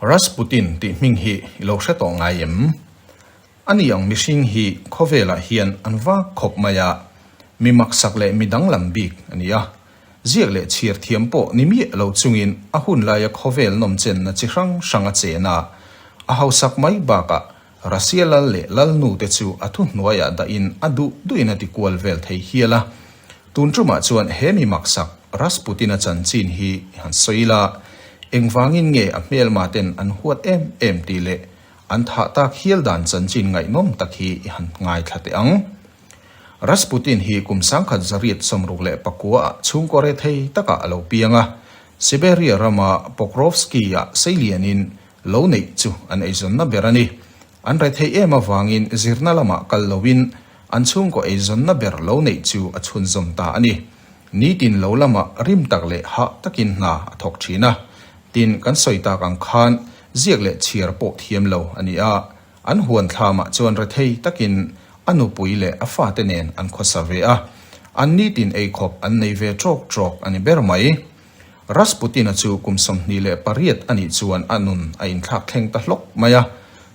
Rasputin tih hming hi i lo hre tawh ngai em? A ni ang mihring hi khawvelah hian an vak khawp mai a, mi maksak leh mi danglam bik a ni a. Ziak leh chhiar thiam pawh ni miah lo chungin a hun laia khawvel nawmchenna chi hrang hrang a chen a, a hausak mai bakah Russia lal leh lalnu te chu a thu hnuaiah dahin a duh duhin a ti kual vel thei hial a. Tun tumah chuan he mi maksak Rasputin-a chanchin hi han sawi la, engvangin nge a hmelmaten an huat em em tih leh an thah tak hial dan chanchin ngaihnawm tak hi i han ngai thla teh ang. Rasputin hi kum sangkhat zariat sawmruk leh pakuaah chhungkaw rethei takah a lo piang a, Siberia rama Pokrovsky-ah seilianin Lo neih chu an eizawnna ber a ni. An re thei em avangin zirna lamah kal loin an chhungkaw eizawnna ber lo neih chu a chhunzawm ta a ni. Nitin lo lama rim tak leh hah takin hna a thawk thin a. Tin, kan sawi tak ang khan ziak leh chhiar pawh thiam lo a ni a. An huan thla mah chuan re thei takin a nupui leh a fate nen an khawsa ve a. An nitin ei khawp an nei ve trawk trawk a ni ber mai. Rasputin-a chu kum sawmhnih leh pariat a nih chuan a nun a inthlak thleng ta hlawk mai a.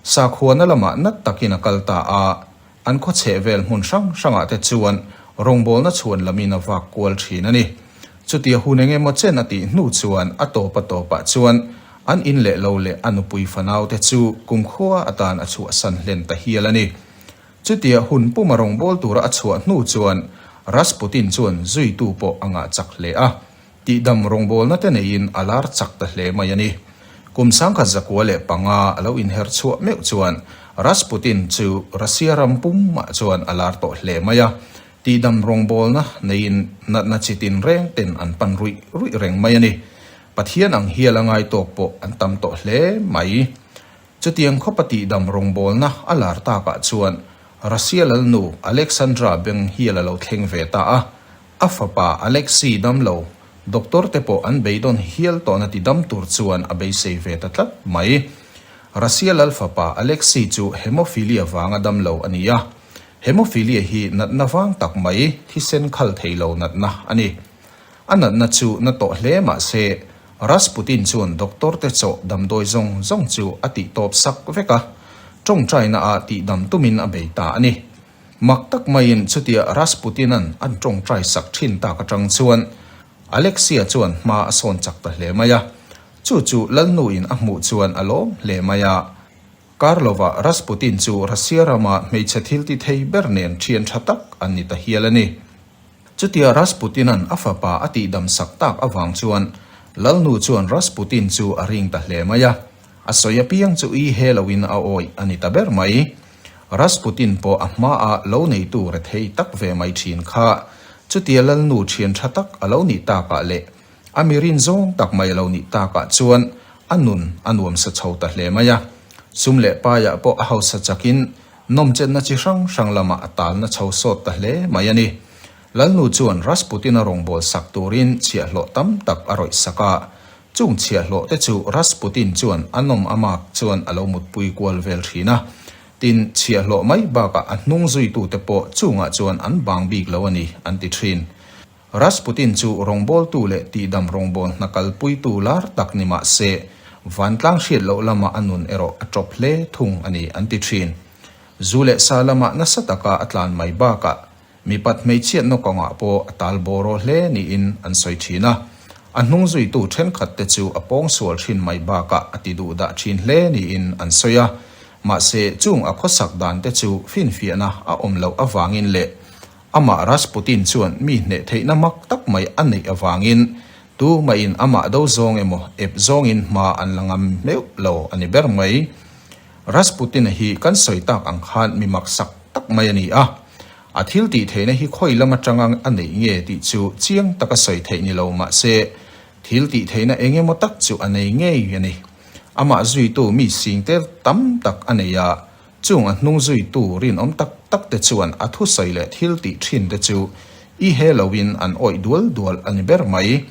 Sakhuana lamah nat takin a kal ta a, an khawchheh vel hmun hrang hrangah te chuan rawngbawlna chhuan lamin a vak kual thin a ni. Chutia hun eng emaw chen a tih hnu chuan a tawpa tawpah chuan an in leh lo leh a nupui fanaute chu kum khua atan a chhuahsan hlen ta hial a ni. Chutia hun puma rawngbâwl tura a chhuah hnu chuan Rasputin chuan zuitu pawh a ngah chak hle a, tihdam rawngbâwlna te neiin a lâr chak ta hle mai a ni. Kum sangkhat zakua leh panga a lo inher chhuah meuh chuan Rasputin chu Russia ram pumah chuan a lâr tawh hle mai a, tihdam rawngbâwlna neiin natna chi tinreng ten an pan ruih ruih reng mai a ni. Pathian ang hial a ngai tawk pawh an tam tawh hle mai. Chutiang khawpa tihdam rawngbawlna a lar takah chuan Russia lalnu Alexandra beng hial a lo thleng ve ta a, a fapa Alexei damlo doctor te pawh an beidawn hial tawhna ti dam tur chuan a beisei ve ta tlat mai. Russia lal fapa Alexei chu hemophilia vanga damlo a ni a, hemophilia hi natna vang tak mai, thisen khal theilo natna a ni. A natna chu na tawh hle mah se, Rasputin chuan doctor te chawh damdawi zawng zawng chu a tih tawp sak vek a. Tawngtaina a tih dam tumin a bei ta a ni. Mak tak maiin chutia Rasputinan an tawngtai sak thin tak atang chuan Alexia chuan hma a sawn chak ta hle mai a. Chu chu Lalnuin a hmuh chuan a lawm hle mai a. Karlova Rasputin chu Russia rama hmeichhe thiltithei ber nen thiantha tak an ni ta hial a ni. Chutia Rasputinan a fapa a tihdam sak tak avang chuan Lalnu chuan Rasputin chu a ring ta hle mai a, a sawi apiang chu i he loin a awih a ni ta ber mai. Rasputin pawh a hma a lo neitu rethei tak ve mai thin kha. Chutia Lalnu thian tha tak a lo nih takah leh a mi rin zawng tak mai a lo nih takah chuan a nun a nuam sa chho ta hle mai a. Sum leh paiah pawh a hausa chakin nawmchenna chi hrang hrang lama a talna chho sawt ta hle mai a ni. Lalnu chuan Rasputina rawngbâwl sak turin chhiahhlawh tam tak a rawih sak a, chung chhiahhlawhte chu Rasputin chuan a nawm a mâk chuan a lo mutpui kual vel ṭhin a, tin, chhiahhlawh mai bâkah a hnung zuitute pawh chungah chuan an bâng bîk lo a ni, an ti ṭhin. Rasputin chu rawngbawltu leh tihdam rawngbawlh hna kalpuitu lar tak ni mah se, vantlang hriat loh lama a nun erawh a tawp hle thung a ni an ti thin. Zu leh sa lama nasa taka a tlan mai bakah mipat hmeichhia nawk awngah pawh a tal bawraw hle niin an sawi thin a. A hnung zuitu thenkhat te chu a pawng sual thin mai bakah a ti duh dah thin hle niin an sawi a. Mahse, chung a khawsak dan te chu finfiahna a awm loh avangin leh, Amah Rasputin chuan mi hneh theihna mak tak mai a neih avangin tu mahin amah do zawng emaw ep zawngin hma an la ngam meuh lo a ni ber mai. Rasputin-a hi kan sawi tak ang khan mi maksak tak mai a ni a, a thil tih theihna hi khawi lam atanga a neih nge tih chu chiang taka sawi theih ni lo mah se, thil tih theihna eng emaw tak chu a nei ngei a ni. Amah zuitu mi singtel tam tak a nei a, Chung a hnung zuitu rinawm tak tak te chuan a thusawi leh thil tih thin te chu i he lo in an awih dual dual a ni ber mai.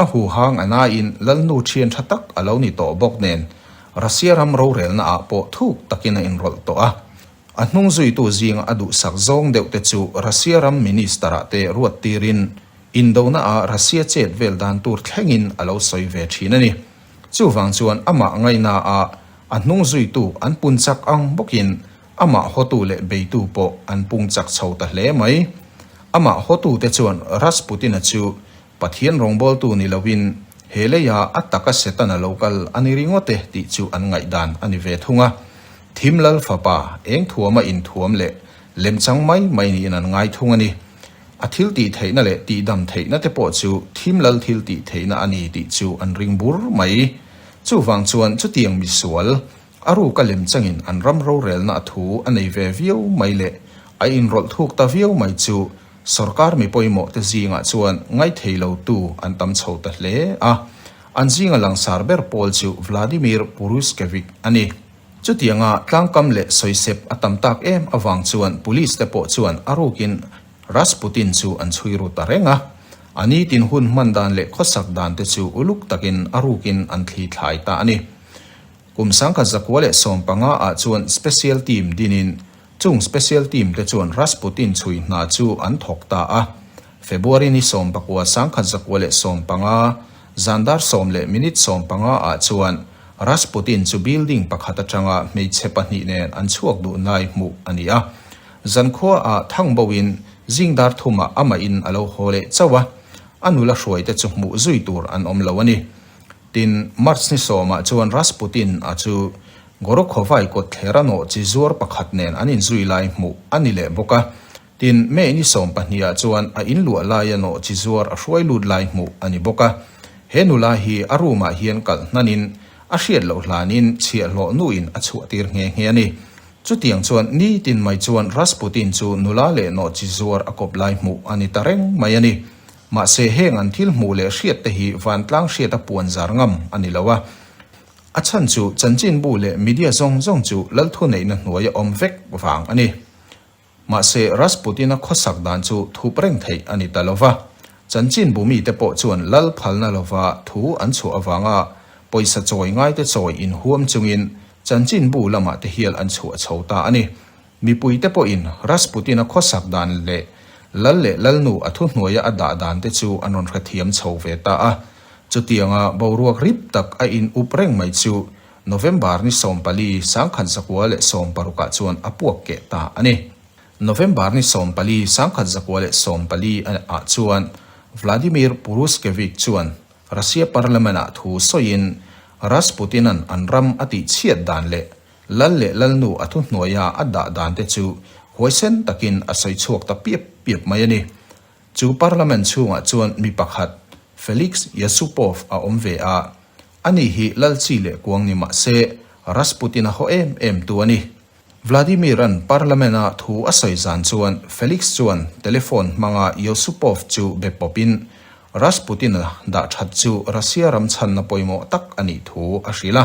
A huha ngana in Lalnu thian tha tak a lo ni tawh bawk nen Russia ram rorelna ah pawh thuk tak in a inrawlh tawh a. A hnung zuitu zing a duhsak zawng deuh te chu Russia ram Minister ah te ruat tir in Indona ah Russia chet vel dan tur thleng in a lo sawi ve thin a ni. Chuvang chuan amah ngaina ah a hnung zuitu an pun chak ang bawkin amah hawtu leh beitu pawh an pung chak chho ta hle mai. Amah hawtu te chuan Rasputina chu Pathian rawngbawltu ni loin he leia a taka Setana lo kal a ni ringawt e tih chu an ngaih dan a ni ve thung a. Thim lal fapa eng thuama inthuam leh lemchang mai mai niin an ngai thung a ni. a thil tih theihna leh tihdam theihna te pawh chu thim lal thil tih theihna a ni tih chu an ring bur mai. Chuvang chuan chutiang misual, a ruka lem changin an ram rorelna a thu a nei ve viau mai leh a inrawlh thuk ta viau mai chu sorkar mi pawimawhte zingah chuan ngaithei lo tu an tam chho ta hle a. An zinga langsar ber pawl chu Vladimir Puruzhkevich a ni. Chutianga tlangkam leh sawisep a tam tak em avang chuan Police te pawh chuan a rukin Rasputin chu an chhui ru ta reng a. A ni tin hun hman dan leh khawsak dan te chu uluk takin a rukin an thli thlai ta a ni. Kum sangkhat zakua leh sawm panga ah chuan Special Team dinin Chung special team te chuan Rasputin chhui hna chu an thawk ta a. February ni sawm pakua sangkhat zakua leh sawm panga, zandar sawm leh minute sawm panga ah chuan Rasputin chu building pakhat atanga hmeichhe pahnih nen an chhuak duh nai hmuh a ni a. Zankhua ah thang bawhin zingdar thuma amahin a lo haw leh chauh a, a nula hruai te chu hmuh zui tur an awm lo a ni. Tin, March ni sawmah chuan Rasputin a chu Gorokhovai kawtther a nawh chi zuar pakhat nen an inzui lai hmuh a ni leh bawk a. Tin, May ni sawm pahnihah chuan a inluah lai a nawh chi zuar a hruai lut lai hmuh a ni bawk a. He nula hi a room-ah hian kal hnanin a hriat loh hlanin chhiah hlawh nuin a chhuahtir nghe nghe a ni. Chutiang chuan nitin mai chuan Rasputin chu nula leh nawh chi zuar a kawp lai hmuh a ni ta reng mai a ni. Mahse, heng an thil hmuh leh hriat te hi vantlang hriat a puan zar ngam a ni lo a. A chhan chu chanchinbu leh media zawng zawng chu lalthu neihna hnuai a awm vek vang a ni. Mahse, Rasputin-a khawsak dan chu thup reng theih a ni ta lo va, chanchinbu mite pawh chuan lal phalna lova thu an chhuah avanga pawisa chawi ngaite chawi inhuam chungin chanchinbu lamah te hial an chhuah chho ta a ni. Mipuite pawhin Rasputin-a khawsak dan leh Lal leh Lalnu a thuhnuaia a dah dan te chu an rawn hrethiam chho ve ta a. Chutianga boruak rip tak a in up reng mai chu November ni sawm pali sangkhat zakua leh sawm parukah chuan a puak keh ta a ni. November ni sawm pali sangkhat zakua leh sawm pali ah chuan Vladimir Puruskevich chuan Russia Parliament-ah thu sawiin Rasputin-a'n an ram a tihchhiat dan leh Lal leh Lalnu a thu hnuaia a dah dan te chu huaisen takin a sawi chhuak ta piap piap mai a ni. Chu Parliament chhungah chuan mi pakhat Felix Yusupov a awm ve a, a ni hi Lal chi leh kuang ni mah se Rasputin a haw em em tu a ni. Vladimir-a'n Parliament-a thu a sawi zan chuan Felix chuan telephone hmanga Yusupov chu be pawpin Rasputin-a dah that chu Russia ram chhanna pawimawh tak a nih thu a hrilh a.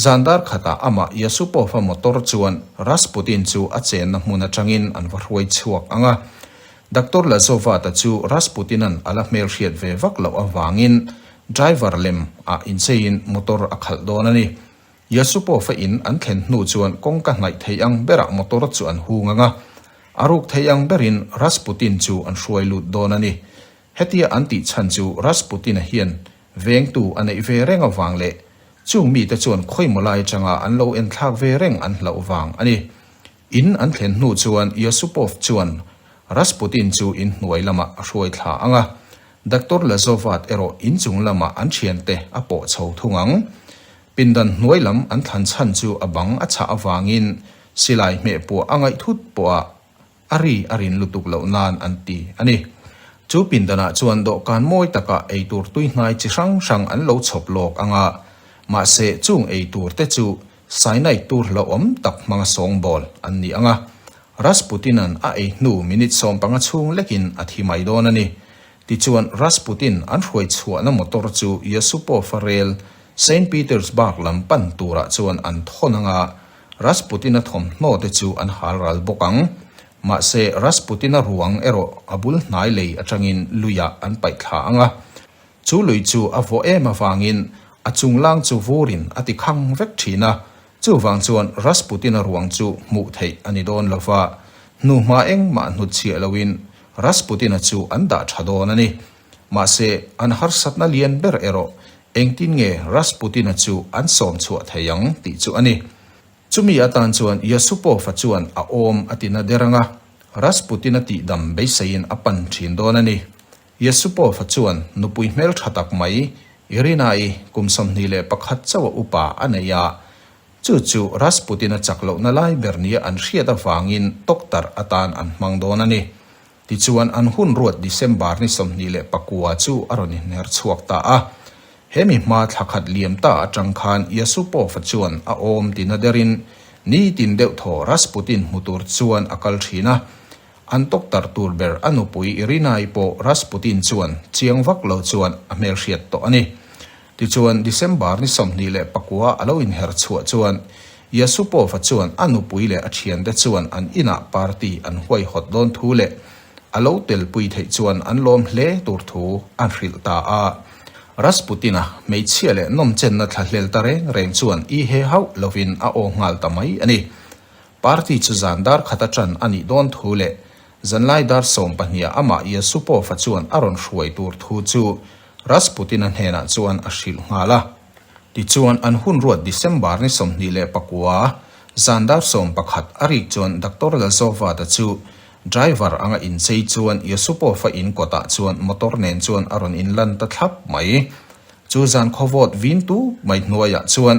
Zan dar khatah amah Yasupov-a motor chuan Rasputin chu a chenna hmun atangin an va hruai chhuak ang a. Doctor Lazovat-a chu Rasputin-a'n a la hmelhriat ve vak loh avangin driver lem ah incheiin motor a khalh dawn a ni. Yasupov-a in an thlen hnu chuan kawng ka hnaih theih ang berah motor chu an hung ang a. A ruk theih ang berin Rasputin chu an hruai lut dawn a ni. Hetia an tih chhan chu Rasputin-a hian vengtu a neih ve reng avang leh chung mite chuan khawi maw lai atanga an lo en thlak ve reng an hloh vang a ni. In an thlen hnu chuan Yusupov chuan Rasputin chu in hnuai lamah a hruai thla ang a, Doctor Lazovat erawh in chung lamah an thiante a pawh chho thung ang. Pindan hnuai lam an thlan chhan chu a bang a chah avangin silai hmeh puah a ngaih thut pawha a ri a rin lutuk loh nan an ti a ni. Chu pindanah chuan dawhkan mawi takah eitur tuihnai chi hrang hrang an lo chhawp lawk ang a, mahse chung ei tur te chu cyanide tur hlauhawm tak hmanga sawng bawl an ni ang a. Rasputinan a ei hnu minute sawm panga chhung lekin a thi mai dawn a ni. Tichuan Rasputin an hruai chhuahna motor chu Yusupov-a rel Saint Petersburg lam pan turah chuan an thawn ang a, Rasputina thawmhnaw te chu an hal ral bawk ang. Mahse, Rasputina ruang erawh a bul hnai lei atangin luiah an paih thla ang a. Chu lui chu a vawh em avangin a chunglang chu vurin a ti khang vek thin a. Chuvang chuan Rasputina ruang chu hmuh theih a ni dawn lo va. Hnuhma engmah hnutchhiah loin Rasputina chu an dah tha dawn a ni. Mahse, an harsatna lian ber erawh engtin nge Rasputin-a chu an sawm chhuah thei ang tih chu a ni. Chumi atan chuan Yasupof-a chuan a awm a tina der anga Rasputin-a tihdam beiseiin a pan thin dawn a ni. Yasupof-a chuan nupui hmel tha tak mai Irina-i kum sawmhnih leh pakhat chauh-a upa a neih a, chu chu Rasputin-a chak lohna lai ber nia an hriat avangin tawk tarh atan an hmang dawn a ni. Tichuan an hun ruat December ni sawmhnih leh pakua chu a rawn inhner chhuak ta a. Hemi hma thla khat liam ta atang khan Yasupova chuan a awm ti na derin ni tin deuh thaw Rasputin hmu tur chuan a kal thin a. An tawktarh tur ber a nupui Irinai pawh Rasputin chuan chiang vak lo chuan a hmelhriat tawh a ni. Tichuan, December ni sawmhnih leh pakua a lo inher chhuah chuan Yasupova chuan a nupui leh a thiante chuan an inah party an huai hawt dawn thu leh a lo telpui theih chuan an lawm hle tur thu a hrilh ta a. Rasputin-a hmeichhia leh nawmchenna thlahlel ta reng reng chuan i he hauh lovin a aw nghal ta mai a ni. Party chu zan dar khat aṭan a nih dawn thu leh zanlai dar sawm pahniha amah Yesupova chuan a rawn hruai tur thu chu Rasputina hnenah chuan a hrilh nghal a. Tichuan, an hun ruat December ni sawmhnih leh pakua zan dar sawm pakhat a rik chuan Doctor Lazovada chu driver anga inchei chuan Yesupova in kawtah chuan motor nen chuan a rawn inlan ta thlap mai. Chu zan khawvawt vin tu mai hnuaiah chuan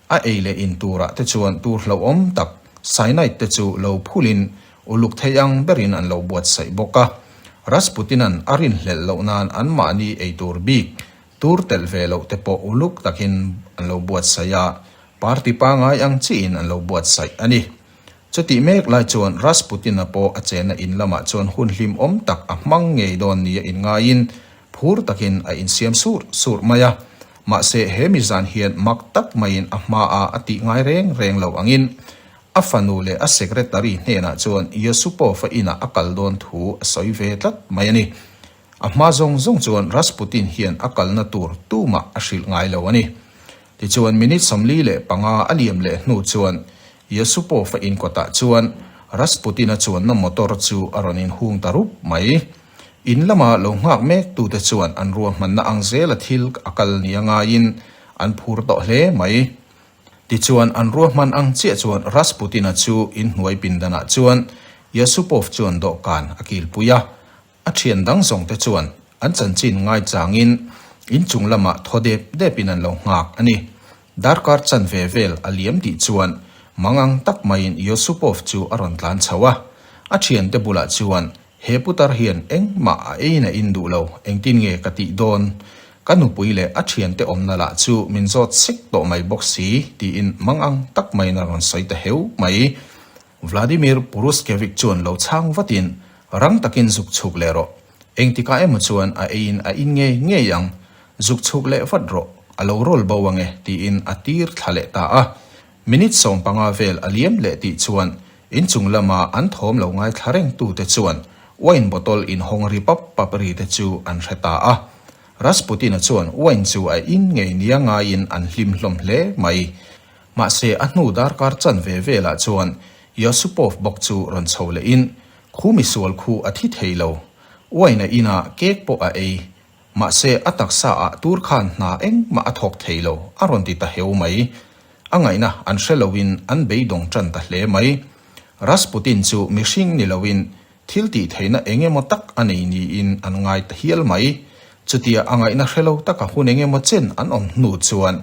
A ei leh in turah te chuan tur hlauhawm tak cyanide te chu lo phulhin uluk thei ang berin an lo buatsaih bawk a. Rasputina'n a rinhlelh loh nan anmahni ei tur bik, tur telh ve loh te pawh uluk takin an lo buatsaih a, party pangai ang chiin an lo buatsaih a ni. Chutih mek lai chuan Rasputina pawh a chenna in lamah chuan hun hlimawm tak a hmang ngei dawn nia in ngaiin phur takin a insiam surh surh mai a, mahse he mi zan hian mak tak maiin a hma a a tih ngai reng reng lo angin a fanu leh a secretary hnenah chuan Yusupov-a inah a kal dawn thu a sawi ve tlat mai a ni. A hma zawng zawng chuan Rasputin hian a kalna tur tumah a hrilh ngai lo a ni. Tichuan minute sawmli leh panga a liam leh hnu chuan Yusupov-a in kawtah chuan Rasputin-a chuanna motor chu a rawn inhung ta rup mai. In lama lo nghak mek tu te chuan an ruahmanna ang zela thil a kal nia ngaiin an phur tawh hle mai. Tichuan an ruahman ang chiah chuan Rasputin-a chu in hnuai pindanah chuan Yusupov chuan dawhkan a kilpui a, a thian dang zawng te chuan an chanchin ngai changin in chung lamah thaw dep depin an lo nghak a ni. Darkar chan ve vel a liam tih chuan mangang tak maiin Yusupov chu a rawn tlan chho a, a thiante bulah chuan He putar hian engmah a ein a in duh lo, engtin nge ka tih dawn? Ka nupui leh a thiante awmna lah chu min zawt sek tawh mai bawk si, tiin mangang tak maiin a rawn sawi ta heu mai. Vladimir Puruskevic chuan lo chhang vatin, Rang takin zuk chhuk leh rawh. Engtikah emaw chuan a eiin a in ngei ngei ang. Zuk chhuk leh vat rawh, a lo rawl bo ange, tiin a tir thla leh ta a. Minute sawm panga vel a liam leh tih chuan inchung lama an thawm lo ngai thla reng tu te chuan wine bottle in hawng ri pap pap ri te chu an hre ta a. Rasputina chuan wine chu a in ngei nia ngaiin an hlim hlawm hle mai. Mahse a hnu dar kar chan ve velah chuan Yosupov bawk chu rawn chho lehin khu misual khu a thi thei lo. Wine a inah cake pawh a ei, Mahse, a taksa ah tur khan hna engmah a thawk thei lo, a rawn ti ta heu mai. A ngaihna an hre lo in an beidawng tan ta hle mai. Rasputin chu mihring ni lo in thiltih theihna eng emaw tak a nei niin an ngai ta hial mai. Chutia a ngaihna hre lo taka hun eng emaw chen an awm hnu chuan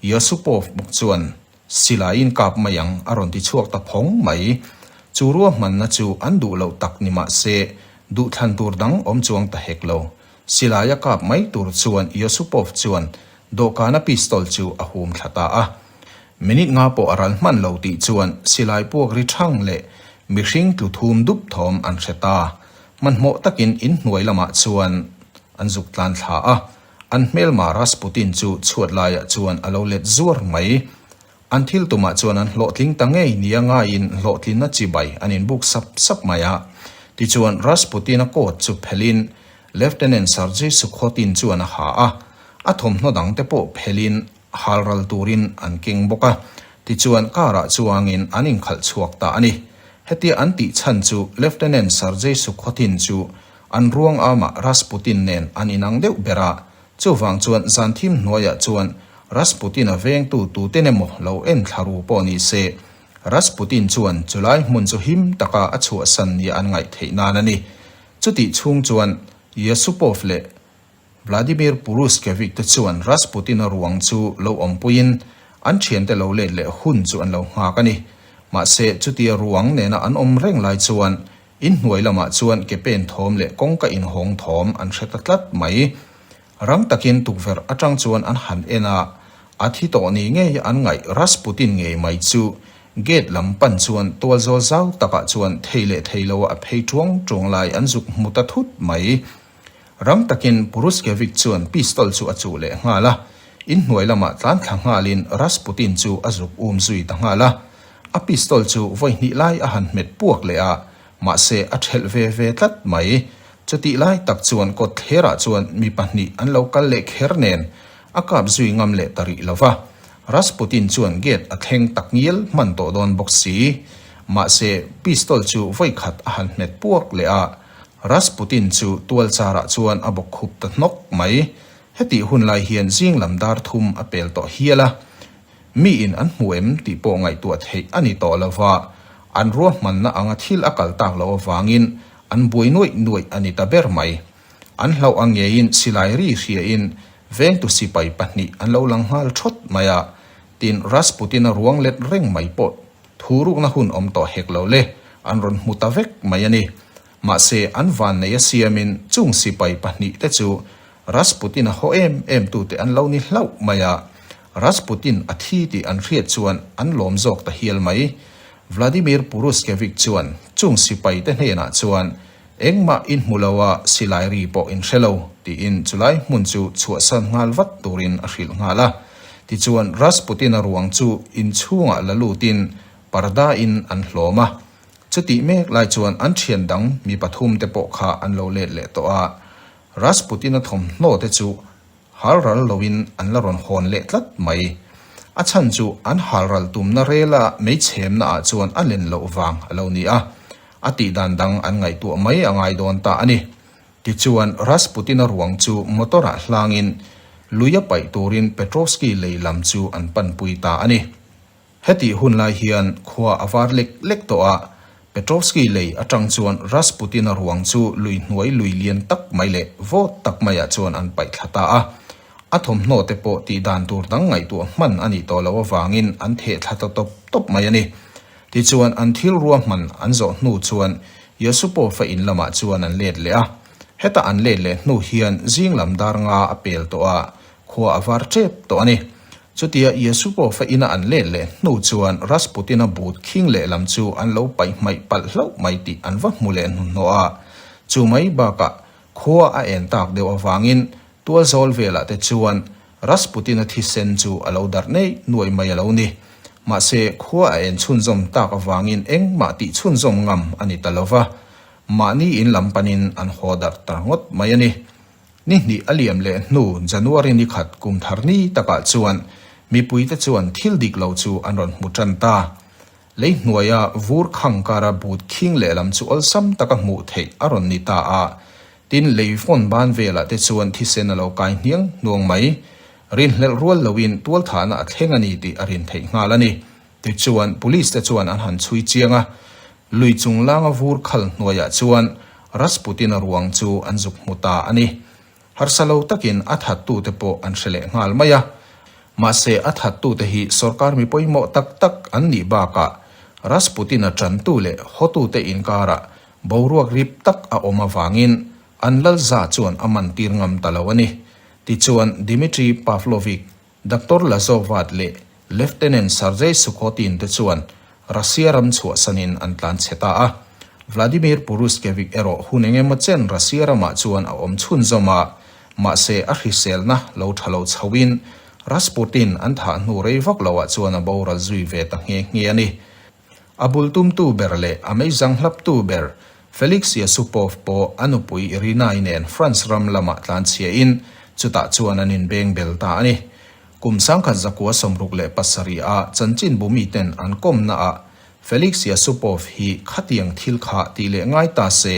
Yusupov bawk chuan Silai in kap mai ang a rawn ti chhuak ta phawng mai. Chu ruahmanna chu an duh loh tak ni mah se, duh thlan tur dang awm chuang ta hek lo. Silai a kap mai tur chuan Yosupov chuan dawhkana pistol chu a hum thla ta a. Minute nga pawh a ral hman lo tih chuan Silai puak ri thang leh mihring tlu thum dup thawm an hre ta. Hmanhmawh takin in hnuai lamah chuan an zuk tlan thla a. An hmelma Rasputin chu chhuat laiah chuan a lo let zuar mai. An thil tumah chuan an hlawhtling ta ngei nia ngaiin hlawhtlinna chibai an inbuk sap sap mai a. Tichuan Rasputina coat chu phelhin Lieutenant Sergei Sukhotin chuan a ha a. A thawmhnaw dangte pawh phelhin hal ral turin an keng bawk a. Tichuan car-ah chuangin an inkhalh chhuak ta a ni. Hetia an tih chhan chu Lieutenant Sergei Sukhotin chu An ruang ama Rasputin nen an in ang deuh ber a, chuvang chuan zan thim hnuaiah chuan Rasputin-a vengtu tute ne maw lo en thla ru pawh ni se, Rasputin chuan chulai hmun chu him taka a chhuahsan nia an ngaih theih nan a ni. Chutih chhung chuan Yusupov leh. Vladimir Puruskevich te chuan Rasputin-a ruang chu lo awmpuiin an thiante lo let leh hun chu an lo nghak a ni. Mahse, chutia ruang nena an awm reng lai chuan inhnuai lamah chuan ke pen thawm leh kawngka inhawng thawm an hre ta tlat mai. Rang takin tukverh atang chuan an han en a, a thi tawh ni ngei an ngaih Rasputin ngei mai chu gate lam pan chuan tual zawl zau takah chuan thei leh thei loa a phei tuang tuang lai an zuk hmu ta thut mai. Ram takin Puruskevich chuan pistol chu a chuh leh nghal a, in hnuai lamah tlan thla nghalin Rasputin chu a zuk um zui ta nghal a. A pistol chu vawi hnih lai a han hmet puak leh a, mahse a ṭhelh ve ve tlat mai. Chutih lai tak chuan kawttherah chuan mi pahnih an lo kal leh kher nen a kap zui ngam leh ta rih lo va. Rasputin chuan gate a thleng tak ngial hman tawh dawn bawk si. Mahse pistol chu vawi khat a han hmet puak leh a. Rasputin chu tualcharah chuan a bawk khup ta hnawk mai. Hetih hun lai hian zing lam dar thum a pel tawh hial a, mi in an hmu em tih pawh ngaihtuah theih a ni tawh lova, an ruahmanna anga thil a kal tak loh avangin an buai nuaih nuaih a ni ta ber mai. An hlauh a ngeiin silai ri hriain vengtu sipai pahnih an lo lang nghal thawt mai a, tin Rasputin-a ruang let reng mai pawh Thu rukna hun awm tawh hek lo le, an rawn hmu ta vek mai a ni. Mahse, an vannei a siamin chung sipai pahnih te chu Rasputin-a haw em em tu te an lo ni hlauh mai a. Rasputin a thi tih an hriat chuan an lawm zawk ta hial mai. Vladimir Puruskevic chuan chung sipai te hnenah chuan Engmah in hmu lo a, silai ri pawh in hre lo, tiin chulai hmun chu chhuahsan nghal vat turin a hrilh nghal a. Tichuan, Rasputin-a ruang chu in chhungah la lutin parda-in an hlawm a. Chutih mek lai chuan an thian dang mi pathum te pawh kha an lo let leh tawh a. Rasputin-a thawmhnaw te chu Hal ral loin an la rawn hawn leh tlat mai. A chhan chu an hal ral tumna rela mei chhemna ah chuan a len loh vang a lo ni a, a tih dan dang an ngaihtuah mai a ngai dawn ta a ni. Tichuan, Rasputin-a ruang chu motor ah hlangin luia paih turin Petrovsky lei lam chu an panpui ta a ni. Heti hun lai hian khua a var lek lek tawh a, Petrovsky lei atang chuan Rasputin-a ruang chu lui hnuai lui lian tak mai leh vawt tak maiah chuan an paih thla ta a. A thawmhnaw te pawh tih dan tur dang ngaihtuah hman a nih tawh loh avangin an theh thla ta tawp tawp mai a ni. Tichuan an thil ruahman an zawh hnu chuan Yasupovo-a in lamah chuan an let leh a. Heta an let leh hnu hian zing lam dar nga a pel tawh a, Khua a var ṭep tawh a ni. Chutia Iesu pawh fa ina an let leh hnu chuan Rasputina but khing leh lam chu an lo paih hmaih palh hlauh mai tih an va hmu leh hnuhnawh a. Chu mai bakah, khua a en tak deuh avangin tualzawl velah te chuan Rasputina thisen chu a lo darh neih nuai mai a lo ni. Mahse, khua a en chhunzawm tak avangin engmah tih chhunzawm ngam a ni ta lo va. Mahni in lam panin an haw darh ta ngawt mai a ni. Ni hnih a liam leh hnu January ni khat kum thar ni takah chuan mipui te chuan thil dik lo chu an rawn hmu tan ta. Lei hnuaia vur khang kara but khing leh lam chu awlsam taka hmuh theih a rawn ni ta a. Tin, lei fawn ban velah te chuan thisen a lo kai hniang hnuang mai. Rinhlelh rual loin tualthahna a thleng a ni tih a rin theih nghal a ni. Tichuan, police te chuan an han chhui chiang a, lui chung langa vur khal hnuaiah chuan Rasputin-a ruang chu an zuk hmu ta a ni. Harsa lo takin a thattu te pawh an hre leh nghal mai a. Mahse, a thattu te hi sorkar mi pawimawh tak tak an nih bakah Rasputin-a tantu leh hawtute inkarah boruak rip tak a awm avangin an lalza chuan a man tir ngam ta lo a ni. Tichuan, Dmitry Pavlovich Doctor Lazovat leh Lieutenant Sergei Sukhotin te chuan Russia ram chhuahsan in an tlan chhe ta a. Vladimir Puruzhkevik erawh hun eng emaw chen Russia ramah chuan a awm chhun zawm a, mahse a hriselna lo tha lo chho in Rasputin an thah hnu rei vak lo ah chuan a boral zui ve ta nghe nghe a ni. A bul tumtu ber leh a meizang hlaptu ber, Felix Yesupov pawh a nupui Irina-i nen France ram lamah tlanchhiahin chutah chuan an inbeng bel ta a ni. Kum sangkhat zakua sawm ruk leh pasarih a chanchin bumi ten an kawmnaah Felix Yesupov hi khatiang thil kha ti leh ngai ta se,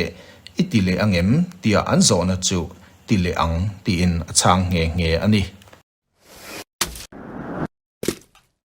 i ti leh ang em? tia an zawhna chu ti leh ang tiin a chhang nghe nghe a ni.